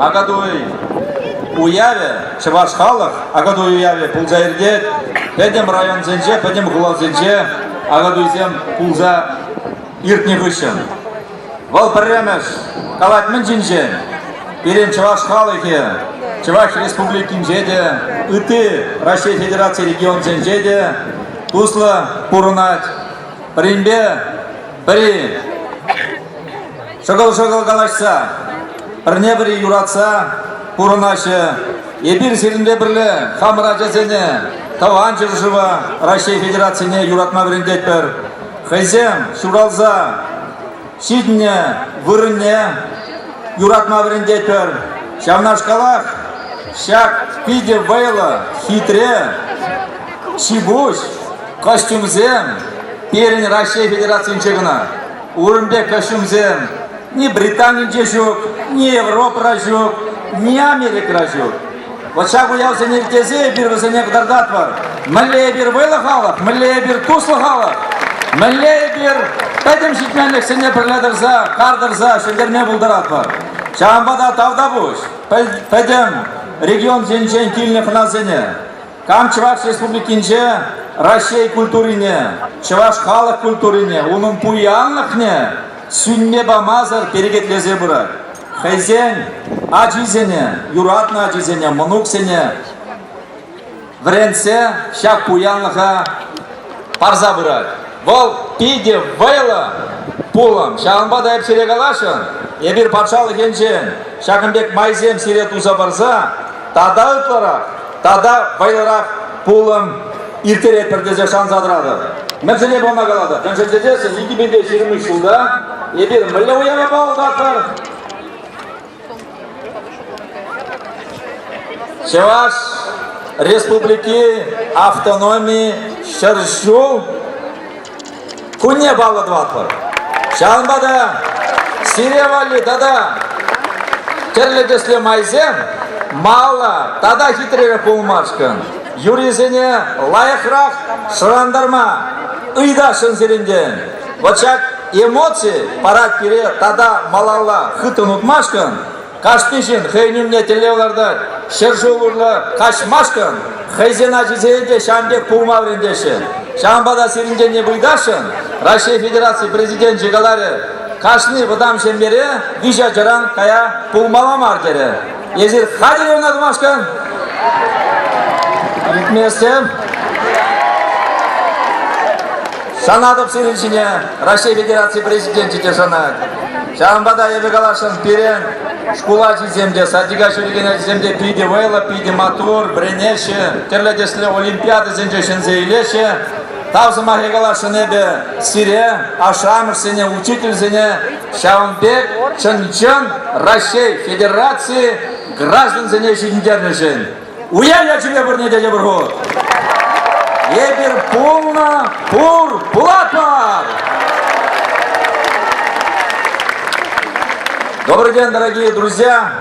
Акатуй уявӗ чӑваш халӑх Акатуй уявӗ пулса иртет. Пӗтӗм районсенче, пӗтӗм хуласенче Акатуйсем пулса иртнӗ хыҫҫӑн. Вӑл пӗрремӗш калать мӗн ҫинчен? Пирӗн чӑваш халӑхӗ Чӑваш Республикинче те, ытти Раҫҫей Федераци регионсенче те туслӑ пурӑнать. Пӗринпе пӗри Шӑкӑл-шӑкӑл калаҫса, пӗрне-пӗри юратса пурӑнаҫҫӗ. Эпир сирӗнпе пӗрле хамӑр ачасене Тӑван ҫӗршыва Раҫҫей Федерацине юратма вӗрентетпӗр. Хӑйсем ҫуралса ҫитнӗ вырӑнне юратма вӗрентетпӗр. Ҫавнашкалах ҫак питӗ вӑйлӑ, хитре, ҫипуҫ костюмсем пирӗн Раҫҫей Федерацинче кӑна. Ун пек ӗҫӗмсем ни Британинче ҫук, ни Европӑра ҫук, ни Америкӑра ҫук. Вот ҫак уявсене иртесе эпир вӗсене кӑтартатпӑр. Мӗнле эпир вӑйлӑ халӑх, мӗнле эпир туслӑ халӑх, мӗнле эпир пӗтӗм ҫитменлӗхсене пӗрле тӑрса, кар тӑрса ҫӗнтерме пултаратпӑр. Ҫавӑнпа та тавтапуҫ пӗтӗм регион енчен килнӗ хӑнасене. Кам Чӑваш Республикинче Раҫҫей культурине, чӑваш халӑх культурине, унӑн пуянлӑхне сӳнме памасӑр перекетлесе пырать. Хӑйсен ачисене, юратнӑ ачисене, мӑнуксене вӗрентсе ҫак пуянлӑха парса пырать. Вӑл питӗ вӑйлӑ пулӑм. Ҫавӑнпа та эп сире каласшӑн, эпир патшалӑх енчен ҫакӑн пек майсем сире туса парса тата ытларах, тата вӑйлӑрах пулӑм ирттеретпӗр тесе шанса тӑратӑп. Мӗншӗне пама калатӑп? Мӗншӗн тесессӗн 2000 ҫырмыш ҫулта эпир мӗнле уява паллатпӑр? Чӑваш Республики автономи ҫӗр ҫул кунне паллӑ тӑватпӑр. Ҫавӑнпа та сире валли тата тӗрлӗ тӗслӗ майсем малла тата хитререх пулмашкӑн юрисене лайӑхрах шӑрантарма ыйтасшӑн сирӗнтен. Вот ҫак эмоци парать пире тата малалла хытӑн утмашкӑн, кашни ҫын хӑйӗн умне тӗллев лартать. Ҫӗр-шыв урлӑ каҫмашкӑн хӑйсен ачисене те ҫавӑн пек пулма вӗрентеҫҫӗ. Ҫавӑнпа та сирӗнтенне вылясшӑн Раҫҫей Федераци Президенчӗ каларӗ, кашни вӑтам ҫемьере виҫ ачаран кая пулмалла мар терӗ. Эсир хатӗр ӑна тумашкӑн. Иртместӗм. Шанатӑп сирӗн ҫине Раҫҫей Федераци Президенчӗ те шанать. Ҫавӑнпа та эпӗ каласшӑн, пирӗн шкул ачисем те, садика ҫӳрекен ачисем те питӗ вӑйлӑ, питӗ маттур, вӗренеҫҫӗ, тӗрлӗ тӗслӗ олимпиадӑсенче ҫӗнсе илеҫҫӗ. Тав сӑмахӗ каласшӑн эпӗ сире, ашшӗ-амӑшсене, учительсене, Ҫавӑн пек чӑн-чӑн Раҫҫей Федераци граждансене ҫӗнтернӗшӗн. Уяв ячӗпе пурне те йӑпӑр хут! Эпир пулнӑ пур пулатпӑр! Добрый день, дорогие друзья!